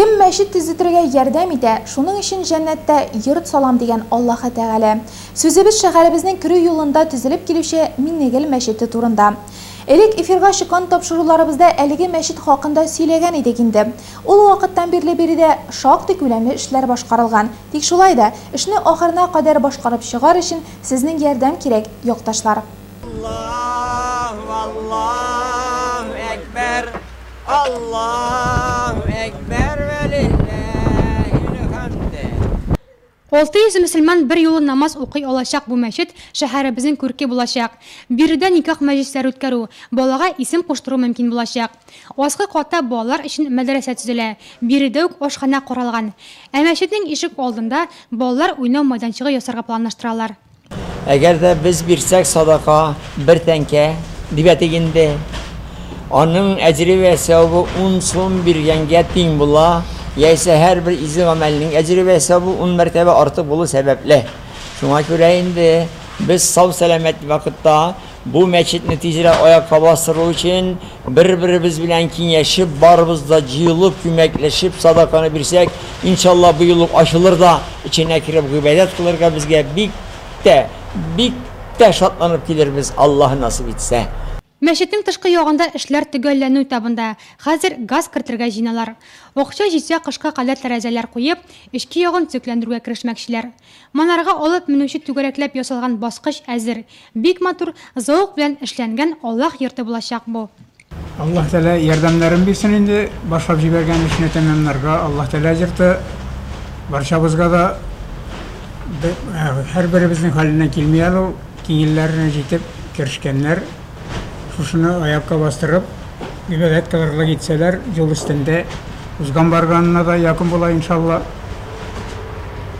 Кем мәчет төзетергә ярдәм итә, шуның өчен җәннәттә йорт салам, дигән Аллаһы Тәгалә. Сүзебез шәһәребезнең керү юлында төзелеп килүче Миннегел мәчете турында. Элек эфирга чыккан тапшыруларыбызда әлеге мәчет хакында сөйләгән идек инде. Ул вакыттан бирле биредә шактый күләмле эшләр башкарылган. Тик шулай да, эшне ахырына кадәр башкарып чыгар өчен сезнең ярдәм кирәк, якташлар. Аллаһу Аллаһу әкбәр. Аллаһу әкбәр вә лилләһилхәмде. Алты йөз мөселман берьюлы намаз укый алачак бу мәчет шәһәребезнең күрке булачак. Биредә никах мәҗлесләре үткәрү, балага исем куштыру мөмкин булачак. Аскы катта балалар өчен мәдрәсә төзелә, биредә үк ашханә каралган. Ә мәчетнең ишек алдында балалар уйнау майданчыгы ясарга планлаштыралар. Әгәр дә без бирсәк садака бер тәңкә, дип әйтик инде, аның әҗере вә сәвабы ун сум биргәнгә тиң була, яисә һәрбер изге гамәлнең әҗере вә сәвабы ун мәртәбә артык булу сәбәпле. Шуңа күрә инде без сау-сәламәт вакытта, Бу мәчетне тизрәк аякка бастыру өчен, бер-беребез белән киңәшеп, барыбыз да җыелып, күмәкләшеп, садаканы бирсәк, иншалла, быел ук ачылыр да, эченә кереп гыйбадәт кылырга безгә бик тә, бик тә шатланып килербез, Аллаһы насыйп итсә. Мәчетнең тышкы ягында эшләр төгәлләнү этабында, хәзер газ кертергә җыеналар. Акча җитсә, кышка кадәр тәрәзәләр куеп, эчке ягын төзекләндерүгә керешмәкчеләр. Монарга алып менүче түгәрәкләп ясалган баскыч әзер. Бик матур, зәвык белән эшләнгән Аллаһ йорты булачак бу. Аллаһ Тәгалә ярдәмнәрен бирсен инде, башлап җибәргән эшне тәмамларга. Аллаһ Тәгалә йорты барчабызга да, һәрберебезнең хәленнән килми әле ул. Киңелләренә җитеп керешкәннәр, шушыны аякка бастырып, гыйбадәт кылырлык итсәләр, юл өстендә узган-барганына да якын була, иншалла.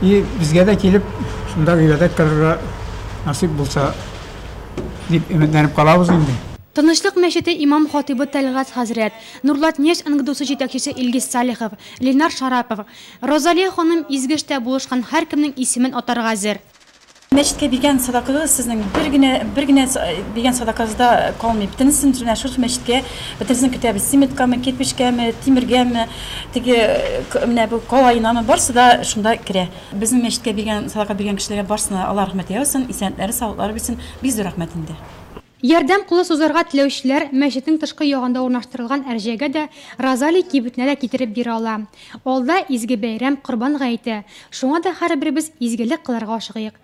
И безгә дә килеп, шунда гыйбадәт кылырга насыйп булса, дип өметләнеп калабыз инде. Тынычлык мәчете имам-хатыйбы Тәлгать хәзрәт, Нурлатнефть НГДУсы җитәкчесе Илгиз Салихов, Ленар Шарапов, Розалия ханым Изгештә булышкан һәркемнең исемен атарга әзер. Мәчеткә биргән садакагыз сезнең бер генә, бер генә биргән садакагызда калмый. Бөтенесен менә шушы мәчеткә, бөтенесен көтәбез. Цементкамы, кирпечкәме, тимергәме, теге менә бу калаенамы, барсы да шунда керә. Безнең мәчеткә биргән, садака биргән кешеләргә барсына Алла рәхмәт яусын, исәнләре, саулыклары бирсен. Бик зур рәхмәт инде. Ярдәм кулы сузарга теләүчеләр мәчетнең тышкы ягында урнаштырылган әрҗәгә дә, Розалий кибетенә дә китереп бирә ала. Алда изге бәйрәм, Корбан гаете, шуңа да һәрберебез изгелек кылырга ашыгыйк.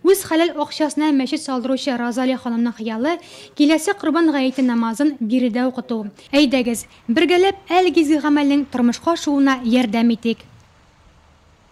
Үз хәләл акчасына мәчет салдыручы Розалия ханымның хыялы, киләсе Корбан гаете намазын биредә укыту. Әйдәгез, бергәләп әлеге изге гамәлнең тормышка ашуына ярдәм итик!